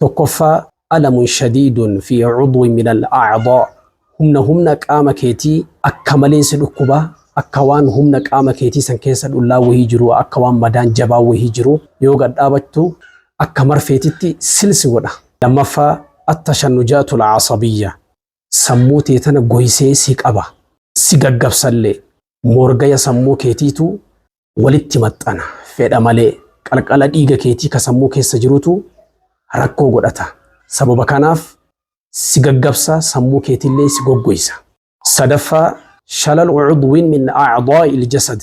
Tokkoffaa, alamun shadiidun fi cudwin min al acdaa, humna humna qaama keetii akka maleen si dhukkuba, akka waan humna qaama keetii san keessa dhullaan wahii jiruu, akka waan madaan jabaan wahii jiruu, yoo gad dhaabattu akka marfeetitti sil si godha. Lammaffaa, attashannujaatu al casabiyya, sammuu tee tana goysee si qaba, si gaggabsallee, moorgaya sammuu keetiitu walitti maxxana. Fedha malee qalqala dhiiga keetii ka sammuu keessa jirutu rakkoo godhata. Sababa kanaaf si gaggabsa, sammuu keetillee si goggoysa. Sadaffaa, shalalu cudwin min acdaa'il jasad.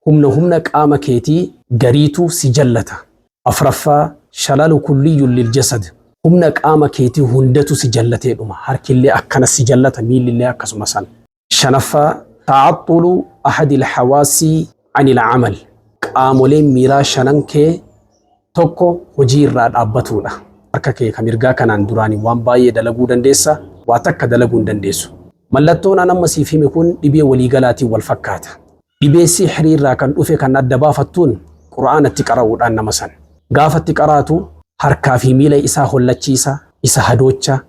Humna humna qaama keetii gariitu si jallata. Afraffaa, shalalu kulliyyun lil jasad. Humna qaama keetii hundatu si jallatee dhuma. Harkillee akkana si jallata, miillillee akkasuma san. Shanaffaa ta'axxulu ahadil hawaasii anil amal qaamoleen miiraa shanan kee tokko hojii irraa dhaabbatuudha. Harka kee kan mirgaa kanaan duraanii waan baay'ee dalaguu dandeessa, waa takka dalaguu hin dandeessu. Mallattoon an amma siif hime kun dhibee waliigalaatiin wal fakkaata. Dhibee sihrii irraa kan dhufe kan adda baafattuun Qur'aana itti qara'uudhaan nama san. Gaafa itti qaraatu harkaa fi miila isaa hollachiisa, isa hadoocha,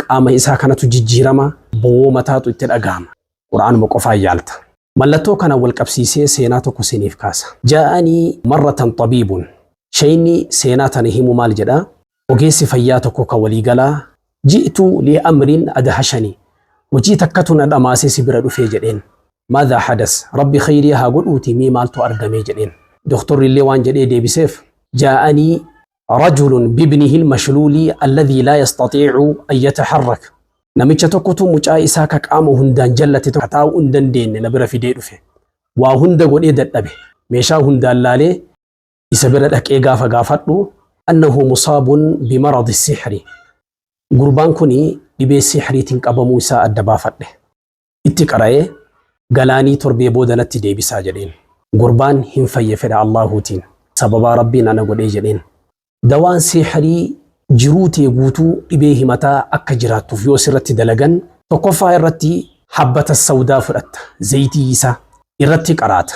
qaama isaa kanatu jijjiirama, bowwoo mataatu itti dhagahama. Qur'aanuma qofaan yaalta. Mallattoo kanaan wal qabsiisee seenaa tokko siiniif kaasa. Jaa'anii marratan xabiibun. Sheyni seenaa tana himu maal jedha? Ogeessi fayyaa tokko ka waliigalaa, Ji'tu li amrin adhashani, hojii takkatu na dhamaasee si bira dhufee jedheen. Maadha hadas, Rabbi kheyrii haa godhuutii mee maaltu argamee jedheen. Doktorrillee waan jedhee deebiseef, Jaa'anii rajulun bibnihi lmashluuli alladhii laa yastatiicu an yataharrak, Namicha tokkotu mucaa isaa ka qaama hundaan jallate tokko ka taa'uu hin dandeenne na bira fidee dhufe. Waa hunda godhee dadhabe, meeshaa hundaan laalee, isa bira dhaqee gaafa gaafadhu annahu musaabun bimaradi sixri gurbaan kun dhibee sixriitiin qabamuu isaa adda baafadhe itti qara'ee galaanii torbee booda natti deebisaa jedheen gurbaan hin fayye fedha allaahuutiin sababaa rabbiin ana godhee jedheen dawaan sixrii jiruu tee guutuu dhibee himataa akka jiraattuuf yoo sirratti dalagan tokkoffaa irratti habbata sawdaa fudhatta zayitii isaa irratti qaraata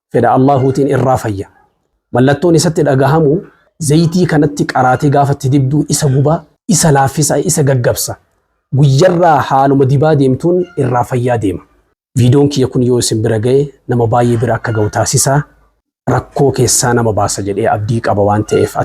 fedha Allaahuutiin irraa fayya. Mallattoon isatti dhagahamu zayitii kanatti qaraatee gaafa itti dibduu isa gubaa, isa laaffisa, isa gaggabsa. Guyyarraa haaluma dibaa deemtuun irraa fayyaa deema. Viidoon kiyya kun yoo isin bira ga'e nama baay'ee bira akka ga'u taasisaa rakkoo keessaa nama baasa jedhee abdii qaba waan ta'eef.